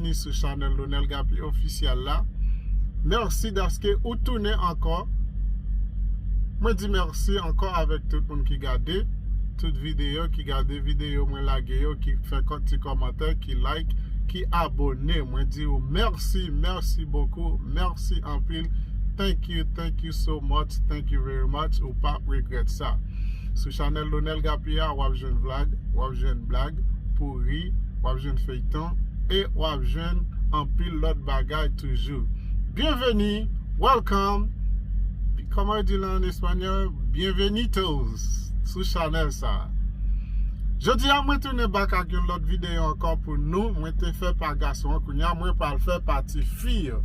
Byenvini sou chanèl Lonel Gapi Official la Merci daske ou tounen ankò Mwen di merci ankò avèk tout moun ki gade tout videyo ki gade videyo mwen lage yo ki fè kont ti kòmantè ki like ki abone mwen di ou merci merci beaucoup merci anpil thank you thank you so much thank you very much ou pap regret sa. Sou chanèl Lonel Gappy a wap jwenn vlag, wap jwenn blag pou ri, wap jwenn feyton e wap jwenn anpil lòt bagay toujou. Byenveni, welcome, kòman yo di l an espanyòl, bienvenidos sou chanèl sa a. Jodi a mwen tounen bak ak yon lòt videyo ankò pou nou, mwen te fè pa gason an kounye a mwen pral fè pa ti fi yo.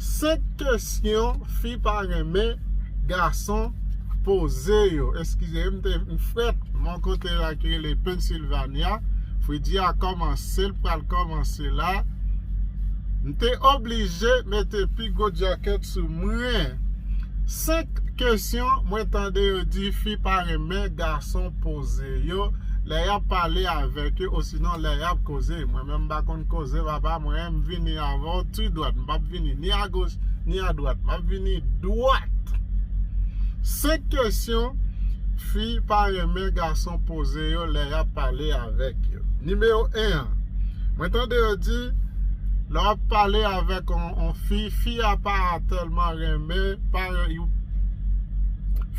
5 kesyon fi pa renmen gason poze yo eskize m te m frèt mon kote la ki rele Pennsylvania fredi a kòmanse l pral kòmanse la m te oblije mete pi gwo djakèt sou mwen 5 kesyon mwen tande yo di fi pa renmen gason poze yo lè y ap pale avèk yo osinon lè y ap koze mwen menm m pa konn koze papa mwen m vini avè w tu dwèt m p ap vini ni a goch ni a dwat map vini dwat 5 kesyon fi pa renmen gason poze yo lè yap pale avèk yo nimewo 1 an mwen tande yo di lè wap pale avèk yon fi fi a pa tèlman renmen pa yon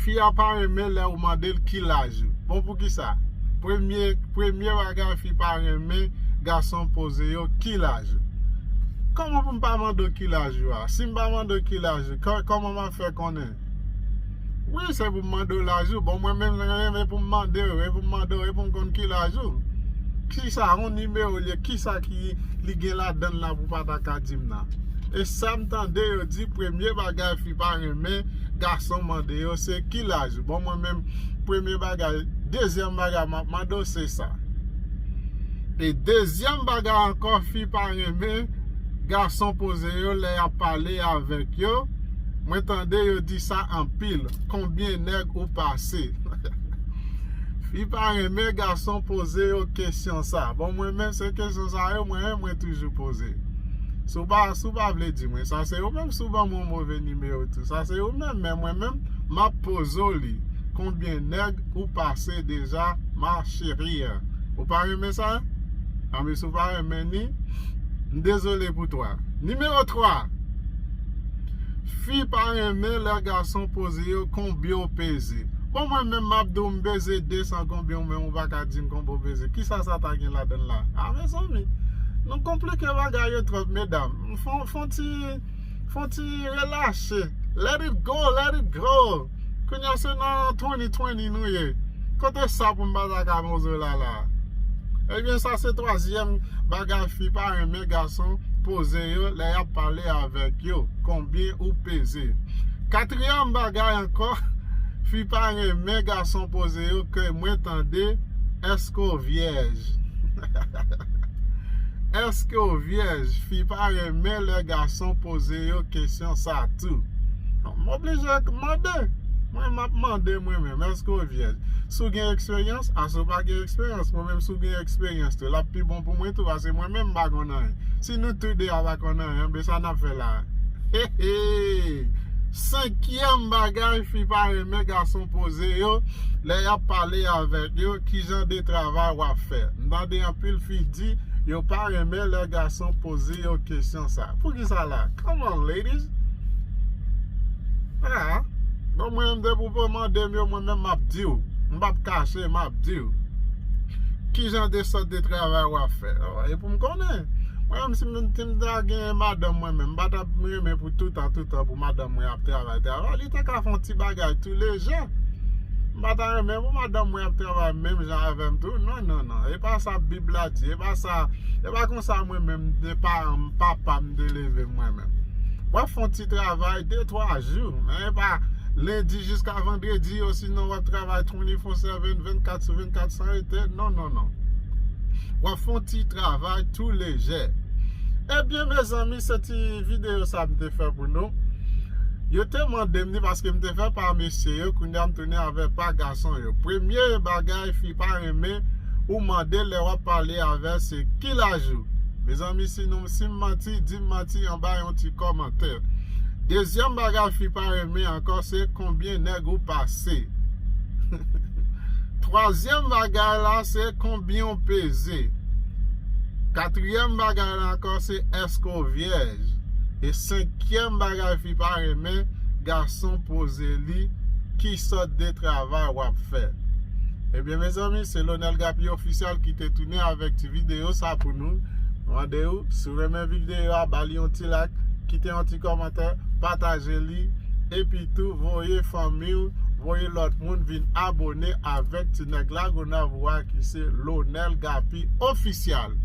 fi a pa renmen lè ou mande l ki laj ou bon pou ki sa premye premye bagay fi pa renmen gason poze yo ki laj ou. Kòman pou m pa mande w ki laj ou a? Si m pa mande w ki laj ou, kòman m ap fè konnen? Wi, se pou m mande w laj ou. Bon, mwen menm m renmen pou m mande w, e pou m mande w, e pou m konn ki laj ou. Ki sa yon nimewo l ye? Ki sa ki li gen ladan l la pou w pa ta ka di m nan? E sa m tande yo di, premye bagay fi pa renmen gason mande yo se ki laj ou? Bon, mwen menm, premye bagay, dezyèm bagay m ap mande w se sa. E dezyèm bagay ankò fi pa renmen gason poze yo lè yap pale avèk yo mwen tande yo di sa anpil konbyen nèg ou pase fi pa renmen gason poze yo kesyon sa bon mwen menm se kesyon sa yo mwen menm mwen toujou poze si w pa vle di mwen sa se ou menm si w ban mwen yon move nimewo tou sa se ou menm men mwen menm map poze w li konbyen nèg ou pase deja ma cherie. Ou pa renmen sa? Anben si w pa renmen ni, m dezole pou 3. Nimewo 3, Fi pa renmen lè gason poze yo konbyen w peze. Bon mwen menm m ap di w m peze 200 konbyen w menm ou pa ka di m konbyen w peze. Kisa sa ta gen ladan l la? A mezanmi! Nou konplike bagay yo twòp medam. Fon ti, fon ti relaxe. Let it go, let it go! Kounya se nan 2020 nou ye Kote sa pou m pa ta ka poze w la la a Ebyen sa se twazyèm bagay fi pa renmen gason poze yo lè y ap pale avèk yo Konbyen ou peze Katriyèm bagay ankò fi pa renmen gason poze yo ke mwen tande Èske w vyèj Èske w vyèj Fi pa renmen lè gason poze yo kesyon sa tou. M oblije mande, mwen map mande mwen menm eske w vyèj? Si w gen eksperyans, ase w pa gen eksperyans, mwen menm si w gen eksperyans tou lap pi bon pou mwen tou pase mwen menm m pa konn anyen. Si nou tou 2 a pa konn anyen anben sa nap fè la a? Heheey! Senkyèm bagay fi pa renmen gason poze yo lè yap pale avèk yo ki jan de travay wap fè? M tande anpil fi di yo pa renmen lè gason poze yo kesyon sa a. Poukisa la a? Come on ladies! Haa bon mwen menm depi w pa mande m yo mwen menm map di w m pap kache map di w kijan de sòt de travay wap fè e pou m konnen mwen menm si m ta gen madanm mwen menm m pa tap renmen pou toutan toutan pou madanm mwen ap travay travay li ta ka fè yon ti bagay tou lejè m pa ta renmen pou madanm mwen ap travay menm jan avè m tou non non non e pa sa bib la di e pa sa e pa konsa mwen menm de paran m papa m te leve m mwen menm wap fon ti travay de twa jou men e pa lendi jiska vandredi osinon wap travay 24/7 vennkat sou vennkat san rete non non non wap fon ti travay tou lejè ebyen mezanmi se ti video sa m te fè pou nou yo te mande m ni paske m te fè pa mesye yo kounya m tounen avè pa gason yo premye bagay fi pa renmen ou mande lè wap pale avè se ki laj ou mezanmi si m manti. manti dim manti anba yon ti kòmantè dezyèm bagay fi pa renmen ankò se konbyen nèg ou pase twazyèm bagay la se konbyen ou peze katriyèm bagay la ankò se èske ou vyèj e senkyèm bagay fi pa renmen gason poze li ki sòt de travay wap fè ebyen mezanmi se Lonel Gapi Official ki te tounen avèk ti videyo sa pou nou. mande ou si ou renmen video a bali yon ti like kite yon ti komantè pataje li epi tou voye fanmiw voye lot moun vin abone avek ti neg lagonav ou a ki se lonel gapi oficial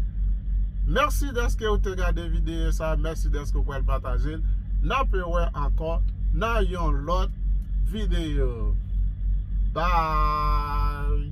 merci deske ou te gade video sa merci deske ou pral pataje l nape we anko nan yon lot video bye